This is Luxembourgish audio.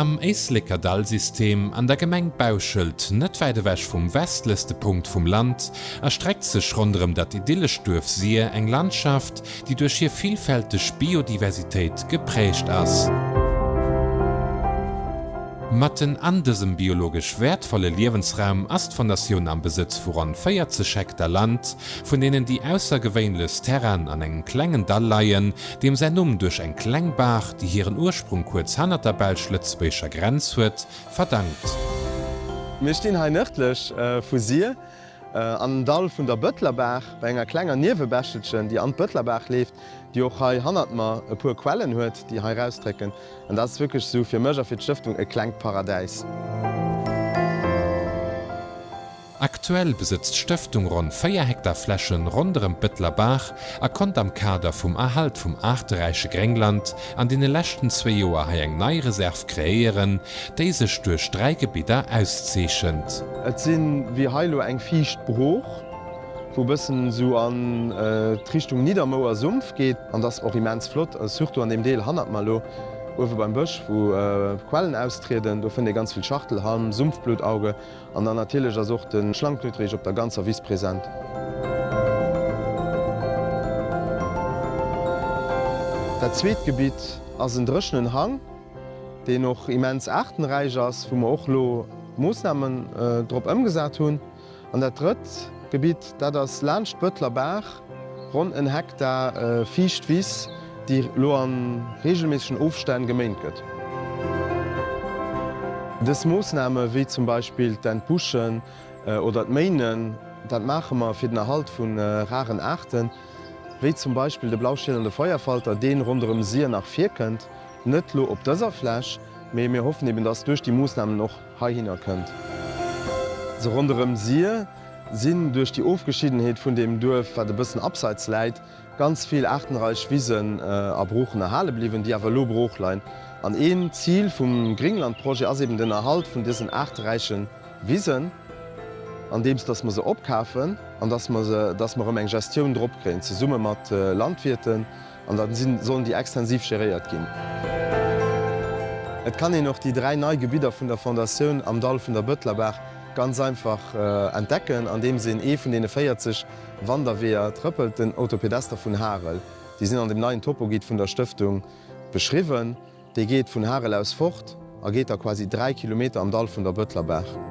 Am Éisleker Dallsystem an der Gemeng Bauschelt, net wäit ewech vum westlechste Punkt vum Land, erstreckt sech ronderëm dat idyllescht Duerf Sir eng Landschaft, déi duerch hir villfälteg Biodiversitéit geprägt ass. Matten an dësem biologesch wäertvolle Liewensraum ass d'Fondatioun am Besëtz vu ronn 40 Hektar Land vun deenen déi aussergewéinlechst Terrainen an engem klengen Dall leien, deem säin Numm duerch eng kleng Baach, déi hiren Ursprung kuerz hannert der belsch-lëtzebuergescher Grenz huet, verdankt. Mir stinn hei nërdlech vu Sir an den Dall vun der Bëtlerbaach, bei enger klenger Niewebächelchen, déi an d'Bëtlerbaach leeft, déi och hei hannert mer e puer Quellen huet, déi hei erausdrécken. An dat ass wierklech esou fir mech a fir d'Stëftung e klengt Paradäis. Aktuell besëtzt d'Stëftung ronn 4 Hektar Fläche ronderëm d'Bëtteler Baach a konnt am Kader vum Erhalt vum aarteräiche Gréngland an deene leschten zwee Joer hei eng nei Reserv kreéieren, déi sech duerch dräi Gebidder auszeechent. Et si wéi hei elo eng fiicht Brooch, wou e bëssen esou an d'Richtung Niddermouer Sumpf geet. An dat ass och immens flott, surtout an deem Deel hannert mer elo, uewe beim Bësch, wou d'Quellen austrieden. Do fënnt ee ganz vill Schachtelhalm, Sumpfbluttauge An dann natierlech ass och de Schlangknutterich op der ganzer Wiss present. Dat zweet Gebitt ass en dréchenen Hang, deen och immens aartenräich ass, wou mer och elo Moossnamen drop ëmgesat hunn. An dat drëtt Gebitt, dat ass laanscht d'Bëtler Baach, Ronn en Hektar fiicht Wiss, déi lo a reegelméissegen Ofstänn geméint gëtt. Dës Moossname wéi zum Beispill d'Entbuschen oder d'Méinen, dat maache mer fir den Erhalt vu raren Aarten, wéi zum Beispill de Blauschiel an de Feuerfalter, dee ronderëm Sir nach virkënnt, net lo op dëser Fläch, mee mir hoffen eben, dass duerch déi Moossnamen och heihinner kënnt se ronderëm Sir. sinn duerch déi Ofgeschiddenheet vun deem Duerf, wat e bëssen abseits läit, ganz vill aartenreich Wisen a Broochen erhale bliwwen, déi awer elo brooch leien. An een Zil vum Gringlandprojet ass eben den Erhalt vun dësen aarteräiche Wisen, andeems datt mer se opkafen an datt mer erëm eng Gestioun drop kréien, zesumme mat Landwirten, An da sollen déi extensiv geréiert ginn. Et kann een och déi dräi nei Gebidder vun der Fondatioun am Dall vun der Bëtlerbaach ganz einfach entdecken, andeems een ee vun deene 40 Wanderweeër trëppelt. Den Autopedester vun Harel, déi sinn an dem neien Topoguide vun der Stëftung beschriwwen. Dee geet vun Harel aus fort a geet da quasi 3 Kilometer am Dall vun der Bëtlerbaach.